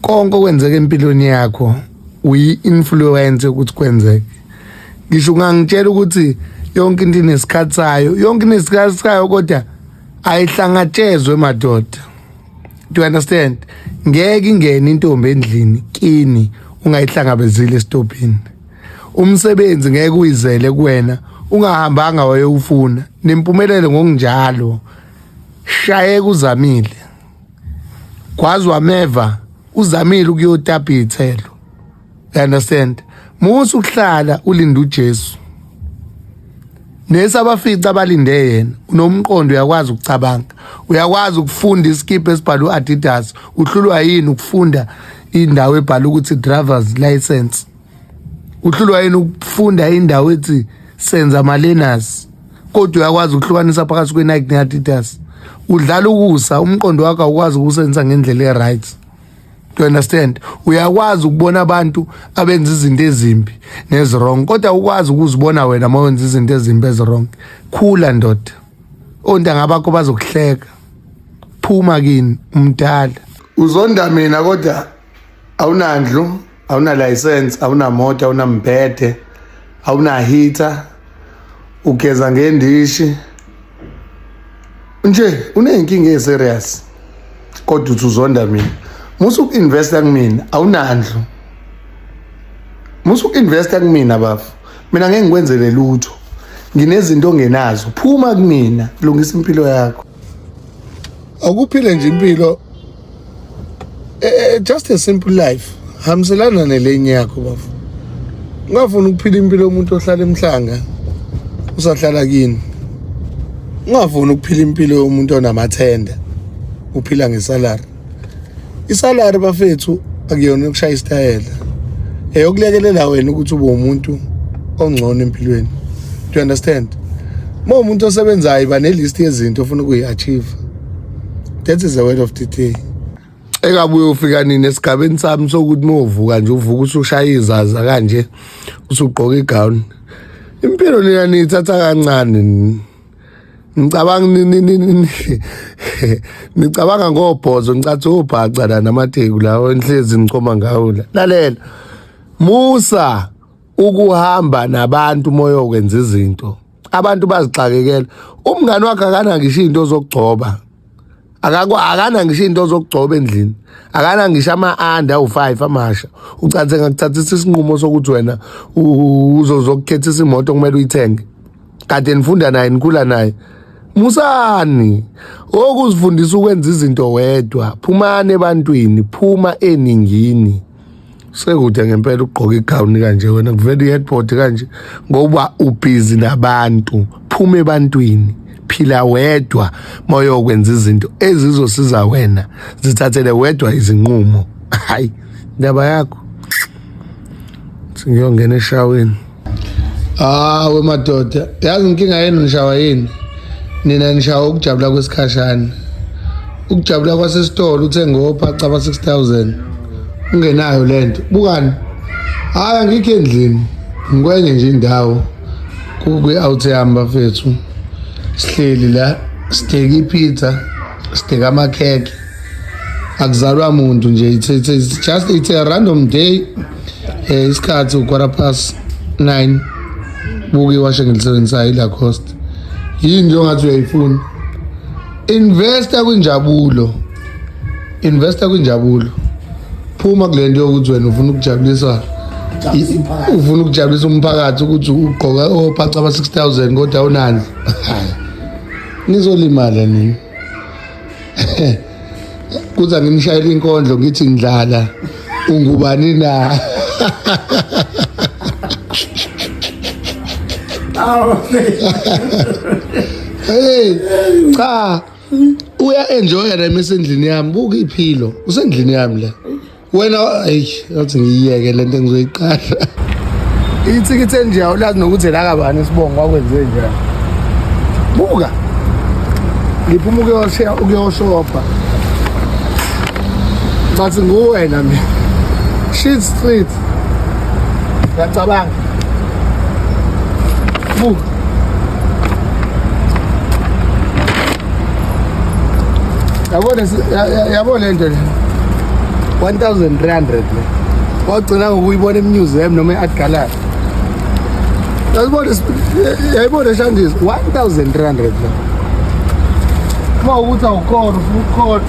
konke okwenzeka empilweni yakho uyi-influence ukuthi kwenzeke ngisho ungangitshela ukuthi yonke into inesikhathi sayo yonke into inesikhathi sayo kodwa ayihlangatshezwe madoda do you understand ngeke ingene intombi endlini kini ungayihlangabezile esitobhini umsebenzi ngeke uyizele kuwena ungahambanga wayewufuna nempumelelo ngokunjalo shayeka uzamile kwazi wameva uzamile ukuyotapa iy'thelo you understand musa ukuhlala ulinde ujesu nesabafici abalinde yena unomqondo uyakwazi ukucabanga uyakwazi ukufunda isikibha esibhalwe u-adidas uhlulwa yini ukufunda indawo ebhala ukuthi drivers license uhlulwa yini ukufunda indawo ethi senza malenas kodwa uyakwazi ukuhlukanisa phakathi kwe-nike ne-adidas udlala ukusa umqondo wakho awukwazi ukuwusebenzisa ngendlela e-right to understand uyakwazi ukubona abantu abenza izinto ezimbi nezirong kodwa ukwazi ukuzibona wena uma wenza izinto ezimbi ezirong khula ndoda ontanga bakho bazokuhleka phuma kini umdala uzonda mina kodwa awunandlu awunalayisensi awunamoto awunambhede awunahitha ugeza ngendishi nje uneyinkinga eserious kodwa uthi uzonda mina musa uku-investa kumina awunandlu musa uku-investa kumina bafu mina ngeke ngikwenzele lutho nginezinto ongenazo phuma kumina lungisa impilo yakho awukuphile nje impilo eh, eh, just a simple life hambiselana nelenye yakho bafo ungafuni ukuphila impilo yomuntu ohlala emhlanga usahlala kini ungafuni ukuphila impilo yomuntu onamathenda uphila ngesalary isalary bafethu akuyona yokushaya isitayela eyokulekelela wena ukuthi ube umuntu ongcono empilweni do you understand uma umuntu osebenzayo iba nelist yezinto ofuna ukuyi-achieve that is the word of the day ekabuye ufika nini esigabeni sami sokuthi uma uvuka nje uvuka usushaya izaza kanje usugqoka igown impilo lena niyithatha kancane ngicabanga nicabanga ngobhozo ngicathi ubhaca la namateku lawo enhlezi ngichoma ngawo la lalela musa ukuhamba nabantu umoya okwenza izinto abantu bazixakekela umngani wakhe akana ngisho izinto zokugcoba akakwa akana ngisho into zokugcoba endlini akana ngisho ama-under awu-five amasha ucanse ngakuthathisa isinqumo sokuthi wena uzozokukhethisa imoto kumele uyithenge kade nifunda naye nikhula naye musani okuzifundisa ukwenza izinto wedwa phumani ebantwini phuma eningini sekude ngempela ugqoka igawuni kanje wena kuvela i-headboard kanje ngoba ubhizi nabantu phuma ebantwini phila wedwa moyokwenza izinto ezizosiza wena zithathele wedwa izinqumo hayi indaba yakho singiyongena eshaweni Ah we madoda, yazi inkinga yenu nishawa yini? Nina nishawa ukujabula kwesikhashana. Ukujabula kwasesitolo uthenge opha caba 6000. Ungenayo lento. Bukani. Hayi angikho endlini. Ngikwenye nje indawo. Kukwi out yamba fethu. Sihleli la, siteki pizza, siteka amakhekhe. Akuzalwa muntu nje, it's, it's, it's just it's a random day. Eh isikhathi ukwara past 9 buke washe ngilisebenzisayo ilacoste yini nje ongathi uyayifuna investa kwinjabulo investa kwinjabulo phuma kule nto yokuthi wena ufuna ukujabulisa ufuna ukujabulisa umphakathi ukuthi ugqoka ophaca aba-6000 kodwa awunani nizolimala nini kuza ngimshayela inkondlo ngithi ndlala ungubani na hey cha uya enjoya la mesendlini yami buka iphilo usendlini yami la wena eyi athi ngiyiyeke le nto engizoyiqala ithikithi enje awulazi nokuthi lakabani isibongo kwakwenze njani buka ngiphuma ukuyoshopa bathi nguwena mina shit street ngiyacabanga buka yabona yabo le nto le 1300 le wagcina ngokuyibona emuseum noma e-art gallery yayibona eshandis 1300 le uma ukuthi awukhona ufuna ukukhona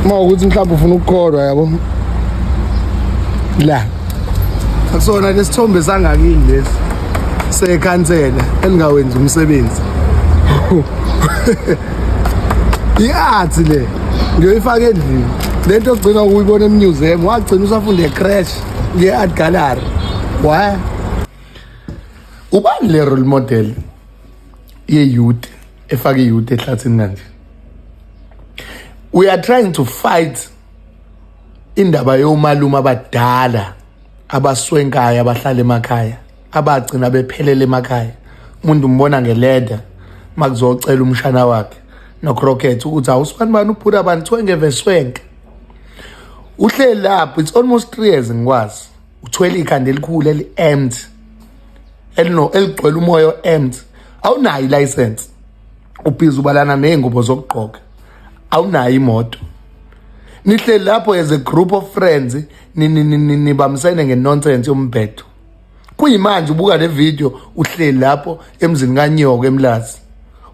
uma ukuthi mhlawumbe ufuna ukukholwa yabo la akusona lesithombe sangakini lesi sekhansela elingawenzi umsebenzi i-art le ngiyoyifaka endlini le nto ogcina ukuyibona emuseum wagcina usafunda ecrash nge-art gallery wa ubani le role model ye-youth efake i-youth ehlathini kanje we are trying to fight indaba yomalume abadala abaswenkayo abahlala emakhaya abagcina bephelele emakhaya umuntu umbona ngeleda makuzocela umshana wakhe nocrocket ukuthi awusibani bani ubhuti abantu kuthiwa ngeveswenke uhleli lapho it's almost three years ngikwazi uthwele ikhanda elikhulu eli-empty eligcwele umoya o-empty awunayo ilayisensi ubhizi ubalana ney'ngubo zokugqoka awunayo imoto nihleli lapho as a group of friends nibambisene ngenonsense yombhedo kuyimanje ubuka le video uhleli lapho emzini kanyoka emlazi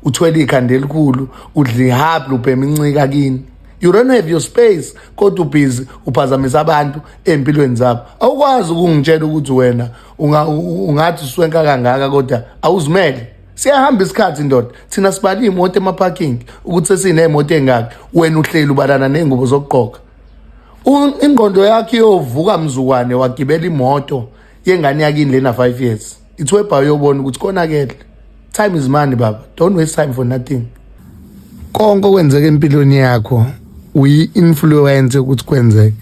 uthwele ikhanda elikhulu udla ihablu ubhema incika kini you don't have your space kodwa ubhizi uphazamisa abantu empilweni zabo awukwazi ukungitshela ukuthi wena ungathi uswenka kangaka kodwa awuzimele siyahamba isikhathi ndoda thina sibala iy'moto emaparking ukuthi sesiney'moto ey'ngaki wena uhleli ubalana ney'ngubo zokugqoka ingqondo yakho iyovuka mzukwane wagibela imoto yengane yakini lena 5 years ithwebha uyobona ukuthi konakele time is money baba don't waste time for nothing konke okwenzeka empilweni yakho uyi-influence ukuthi kwenzeke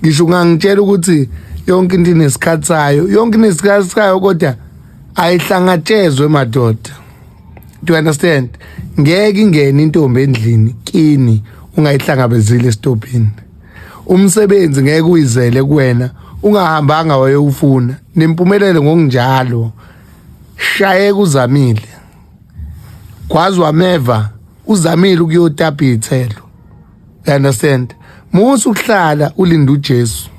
ngisho ungangitshela ukuthi yonke into inesikhathi sayo yonke inesikhathi sayo kodwa ayihlangatshezwe madoda do you understand ngeke ingene intombi endlini kini ungayihlangabezile esitopini umsebenzi ngeke uyizele kuwena ungahambanga wayewufuna nempumelele ngokunjalo shayeka uzamile kwazi wameva uzamile ukuyotapa iy'thelo You understand? Musa ukuhlala ulinda uJesu.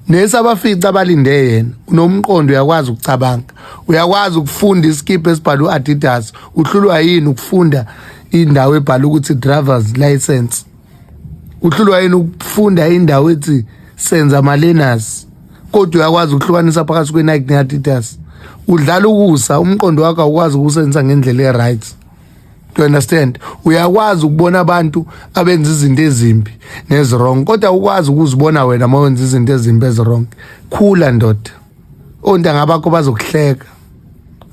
Nesabafica abalinde yena unomqondo uyakwazi ukucabanga. Uyakwazi ukufunda iskip esibhalwe uAdidas. Uhlulwa yini ukufunda indawo ebhala ukuthi driver's license? Uhlulwa yini ukufunda indawo ethi senza malenas? Kodwa uyakwazi ukuhlukanisa phakathi kweNike neAdidas. Udlala ukusa umqondo wakho awukwazi ukusenzisa ngendlela eright. you understand uyakwazi ukubona abantu abenza izinto ezimbi nezirong kodwa ukwazi ukuzibona wena uma wenza izinto ezimbi ezirong khula ndoda ontanga bakho bazokuhleka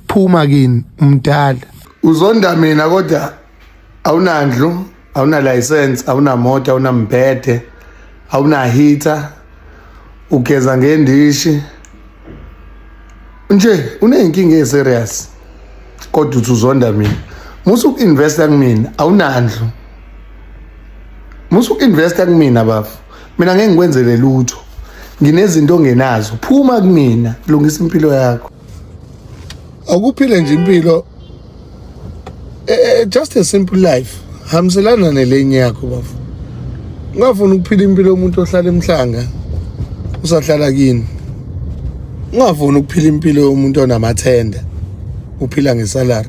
phuma kini umdala uzonda mina kodwa awunandlu awuna license awuna moto awuna mbhede awuna heater ugeza ngendishi nje uneyinkinga eserious kodwa uthi uzonda mina musa uku-investa kumina awunandlu musa uku-investa kumina bafu mina ngeke ngikwenzele lutho nginezinto ongenazo phuma kumina lungisa impilo yakho awukuphile nje impilo eh, eh, just a simple life hambiselana nelenye yakho bafo ungafuni ukuphila impilo yomuntu ohlala emhlanga usahlala kini ungafuni ukuphila impilo yomuntu onamathenda uphila ngesalary